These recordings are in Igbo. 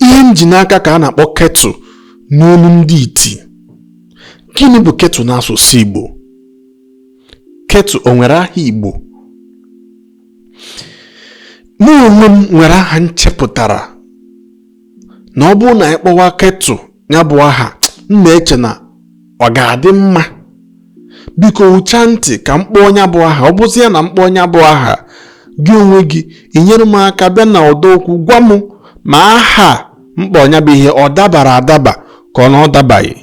ihe m ji n'aka ka a na-akpọ kettle n'olu ndị iti gịnị bụ kettle n'asụsụ Igbo kettle o nwere aha Igbo mụ onwe m nwere aha m chepụtara na ọ bụrụ na anyị kpọwa kettle nya bụ aha m na-eche na ọ ga-adị mma biko ụcha ntị ka m kpọọ nya bụ aha ọ bụzi ya na m kpọọ nya bụ aha gị onwe gị i nyere m aka bịa na ọdọ okwu gwa m ma aha m kpọ nya bụ ihe ọ dabara adaba ka ọ na ọ dabaghị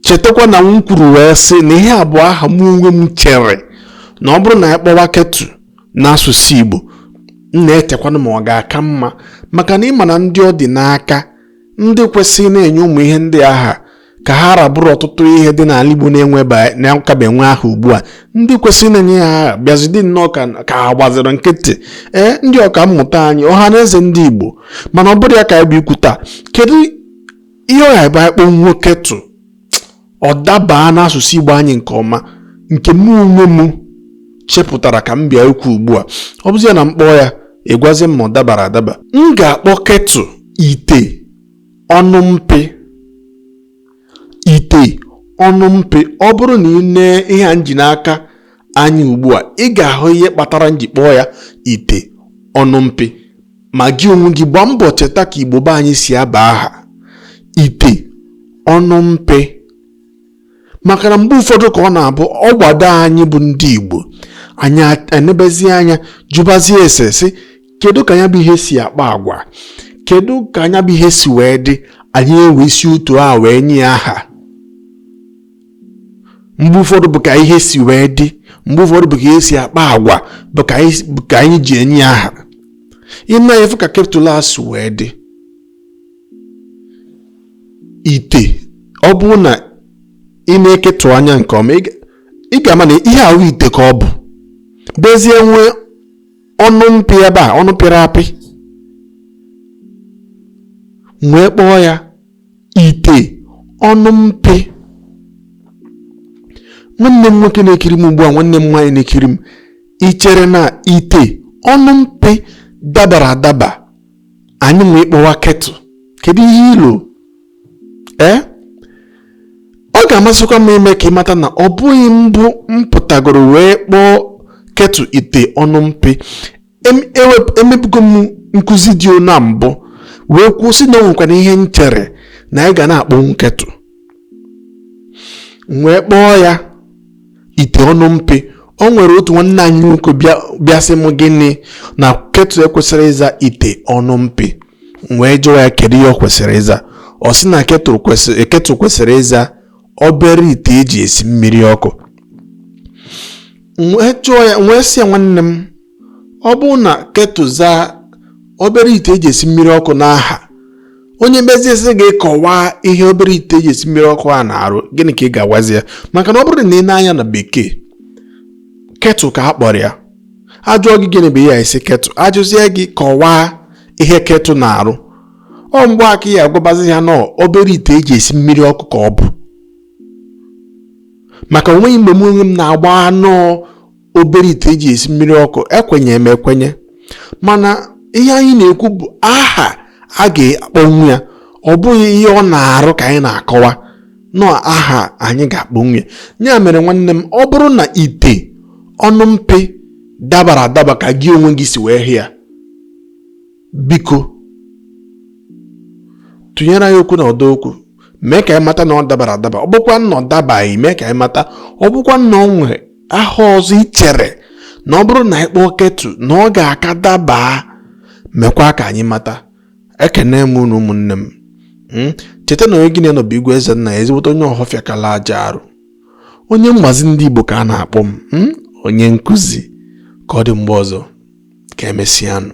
chetakwa na m kwuru wee sị na ihe a bụ aha m onwe m chere na ọ bụrụ na a kpọwa kettle n'asụsụ Igbo m na-echekwanụ ma ọ ga-aka mma maka na ị ma na ndị ọ dị n'aka ndị kwesịrị na-enye ụmụ ihe ndị a aha ka ha rabụrụ ọtụtụ ihe dị n'ala Igbo na-akabe enwe aha ugbu a ndị kwesịrị na-enye ya aha bịazi dị nnọọ ka ha gbaziri nkịtị ee ndị ọka mmụta anyị ọha na eze ndị Igbo mana ọ bụrọ ya ka anyị bụ ikwu taa kedu ihe ọ ya-abụ anyị kpọnwuo kettle ọ dabaa n'asụsụ Igbo anyị nke ọma nke mụ onwe m chepụtara ka m bịa ikwu ugbu a ọ bụzi ya na m kpọọ ya ị gwazi m ma ọ dabara adaba m ga-akpọ kettle ite ọnụ mpi ite ọnụ mpi ọ bụrụ na ị nee ihe a m ji n'aka anya ugbu a ị ga-ahụ ihe kpatara m ji kpọọ ya ite ọnụ mpi ma gị onwe gị gbaa mbọ cheta ka igbo be anyị si aba aha ite ọnụ mpi maka na mgbe ụfọdụ ka ọ na-abụ ọ gbado anyị bụ ndị igbo anyị enebezie anya jụbazie ese sị kedu ka nya bụ ihe si akpa agwa kedu ka nya bụ ihe si wee dị anyị ewee si otu a wee nye aha mgbe ụfọdụ bụ ka ihe si wee dị mgbe ụfọdụ bụ ka ihe si akpa agwa bụ ka anyị ji enye ya aha ị na-afụ ka kettle a si wee dị ite ọ bụrụ na ị nee kettle anya nke ọma ị ga-ama na ihe ahụ ite ka ọ bụ bezie nwee ọnụ mpi ebe a ọnụ pịrị apị m wee kpọọ ya ite ọnụ mpi nwanne m nwoke na-ekiri m ugbu a nwanne m nwaanyị na-ekiri m ị chere na ite ọnụ mpi dabara adaba anyị nwe ịkpọwa kettle kedu ihe i lo ee ọ ga-amasịkwa m ime ka ị mata na ọ bụghị mbụ m pụtagoro wee kpọọ kettle ite ọnụ mpi emebugo m nkụzi dị na mbụ wee kwuo sị na onwekwana ihe m chere na anyị ga na-akpọnwu kettle wee kpọọ ya ite ọnụ mpi o nwere otu nwanne anyị nwoke bịa sị m gịnị na kettle ekwesịghị ịza ite ọnụ mpi m wee jụọ ya kedu ihe o kwesịrị ịza ọ sị na kettle kwesịrị ịza obere ite eji esi mmiri ọkụ wee jụọ ya wee sị ya nwanne m ọ bụrụ na kettle zaa obere ite eji esi mmiri ọkụ n'aha onye mezie sị gị kọwaa ihe obere ite eji esi mmiri ọkụ a na-arụ gịnị ka ị ga-agwazi ya maka na ọ bụrụ na i nee anya na bekee kettle ka a kpọrọ ya a jụọ gị gịnị bụ ihe a ị sị kettle a jụzie gị kọwaa ihe kettle na-arụ ọ mgbe a ka ị ya-agwabazi ya na obere ite eji esi mmiri ọkụ ka ọ bụ maka o nweghị mgbe m onwe m na-agbagha na ọ obere ite eji esi mmiri ọkụ ekwenye m ekwenye mana ihe anyị na-ekwu bụ aha a ga-akpọnwu ya ọ bụghị ihe ọ na-arụ ka anyị na-akọwa na ọ aha anyị ga-akpọnwu ya ya mere nwanne m ọ bụrụ na ite ọnụ mpi dabara adaba ka gị onwe gị si wee hụ ya biko tụnyere anyị okwu na ọdọ okwu mee ka anyị mata na ọ dabara adaba ọ bụkwa na ọ dabaghị mee ka anyị mata ọ bụkwa na o nwere aha ọzọ i chere na ọ bụrụ na anyị kpọọ kettle na ọ ga-aka daba mekwa ka anyị mata ekene m unu ụmụnne m hmm? cheta na onye gị na ya nọ bụ igwe ezennaya ezigbote onye ọhọfịa kala aja arụ onye mgbazi ndị igbo ka a na-akpọ m hmm? onye nkụzi ka ọ dị mgbe ọzọ ka emesịanụ